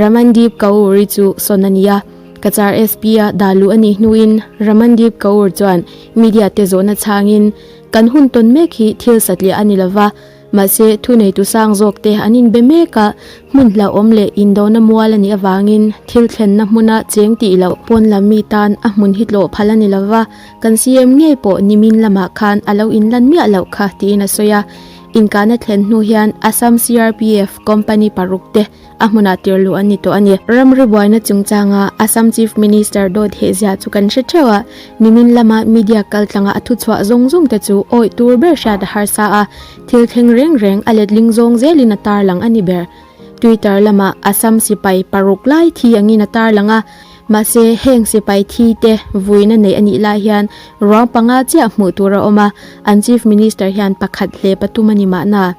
Ramandeep Kaur i chu sawn a ni a, Kachar SP a dah luh a nih hnuin Ramandeep Kaur chuan media te zawhna chhangin Kan hun tawn mek hi thil satliah a ni lo va, mahse thu neitu sang zawk te an inbe mek a, hmun hlauhawm leh indona mual a nih avangin thil thlenna hmuna cheng tih loh pawn lam mi tan a hmun hi tlawh phal a ni lo va, kan CM ngei pawh nimin lamah khan a lo inlan miah loh kha tiin a sawi a. Inkahna thlen hnu hian Assam CRPF company paruk te, a hmunah tir luh an ni tawh a ni. Ram ri buaina chungchanga Assam Chief Minister Daw Thehzia chu kan hre theuh a, nimin lama media kaltlanga a thuchhuah zawng zawng te chu awih tur ber hriat a har sa a, thil thleng reng reng a letling zawng zelin a tarlang a ni ber. Twitter lama Assam sipai paruk lai thi angin a tarlang a, mahse heng sipai thi te vuina neih a nih lai hian ruang panga chiah hmuh tur a awm a, an Chief Minister hian pakhat hle patum a ni mahna.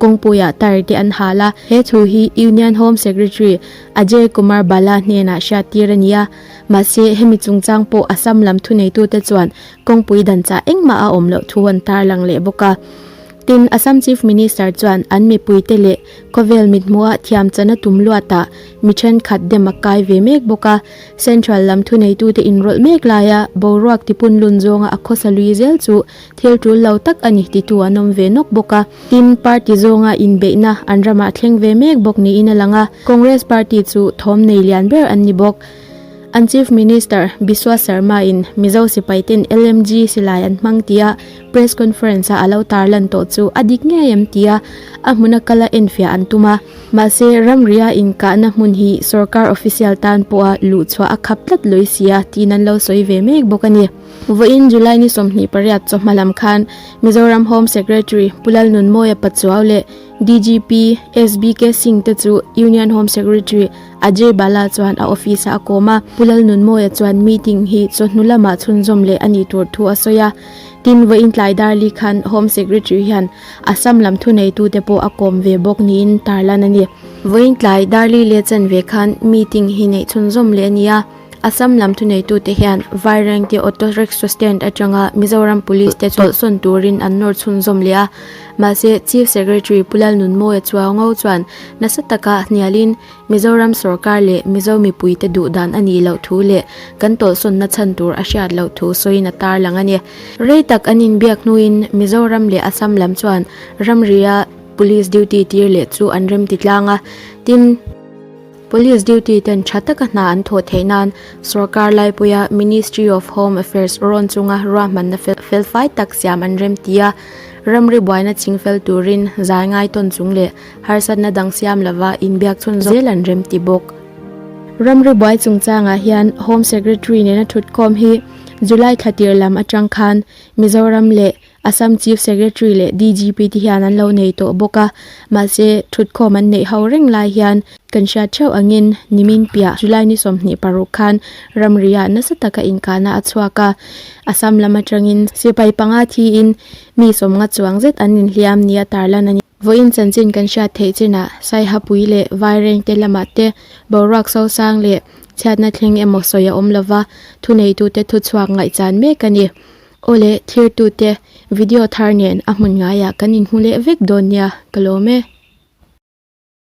kawngpuiah tar te an hal a. He thu hi Union Home Secretary Ajay Kumar Bala hnenah hriattir a ni a. Mahse, hemi chungchang pawh Assam lam thuneitute chuan kawngpui danchah engmah a awm loh thu an tarlang leh bawk a. Tin, Assam Chief Minister chuan an mipuite leh khawvel mithmuhah thiamchhan a tum luatah mi thenkhat dem a kai ve mek bawk a. Central lam thuneitute inrawlh mek laia boruak tipun lun zawnga a khawsa lui zel chu thil tul lo tak a ni titu an awm ve nawk bawk a, tin, party zawnga inbeihna an ramah thleng ve mek bawk niin a lang a, Congress party chu thawm nei lian ber an ni bawk. An Chief Minister Biswa Sarma-in Mizo sipaiten LMG silai an hmang tia press conference-a a lo tarlan tawh chu a dik ngei em tia a hmun a kal a enfiah an tum a, mahse, ramria inkahna hmun hi sorkar official tan pawha luh chhuah a khap tlat lawisia tiin an lo sawi ve mek bawk a ni. Vawiin July ni sawmhnih pariat chawhma lam khan Mizoram Home Secretary Pu Lalnunmawia Pachuau leh DGP SBK Singh te chu Union Home Secretary Ajay Bala chuan a office ah a kawm a. Pu Lalnunmawia chuan meeting hi chawhnu lama chhunzawm leh a nih tur thu a sawi a. Tin, vawiin tlai darli khan Home Secretary hian Assam lam thuneitu te pawh a kawm ve bawk niin tarlan a ni. Vawiin tlai darli leh chanve khan meeting hi neih chhunzawm leh a ni a. Assam lam thuneitute hian Vairengte auto rickshaw stand atanga Mizoram Police te chawlhsawn turin an nawr chhunzawm leh a. Mahse, Chief Secretary Pu Lalnunmawia Chuaongo chuan nasa taka hnialin Mizoram sawrkar leh Mizo mipuite duhdan a nih loh thu leh kan tawlhsawnna chhan tur a hriat loh thu sawiin a tarlang a ni. Rei tak an inbiak hnuin Mizoram leh Assam lam chuan ramria Police duty tir leh chu an remti tlang a, tin, Police duty ten tha taka hna an thawh theih nan sorkar laipuia Ministry of Home Affairs rawn chunga ruahmanna felfai tak siam an remti a, ramri buaina chingfel turin zai ngai tawn chung leh harsatna dang siam lova inbiak chhun zel an remti bawk. Ramri buai chungchangah hian Home Secretary nena thutkhawm hi July thlatir lam atang khan Mizoram leh Assam Chief Secretary leh DGP te hian an lo nei tawh bawk a, mahse thutkhawm an neih ho reng lai hian kan hriat theuh angin nimin piah July ni sawmhnih paruk khan ramriah nasa taka inkahna a chhuak a, Assam lam atangin sipai panga thiin mi sawmnga chuang zet an inhliam nia tarlan a ni. Vawiin chanchin kan hriat theih chinah Saihapui leh Vaireng te lamah te boruak sosang leh chhiatna thleng emaw sawi a awm lova, thuneitute thuchhuak ngaihchan mek a ni. Aw le, thirtute, video thar nen a hmun ngaiah kan inhmu leh vek dawn nia, ka lawm e.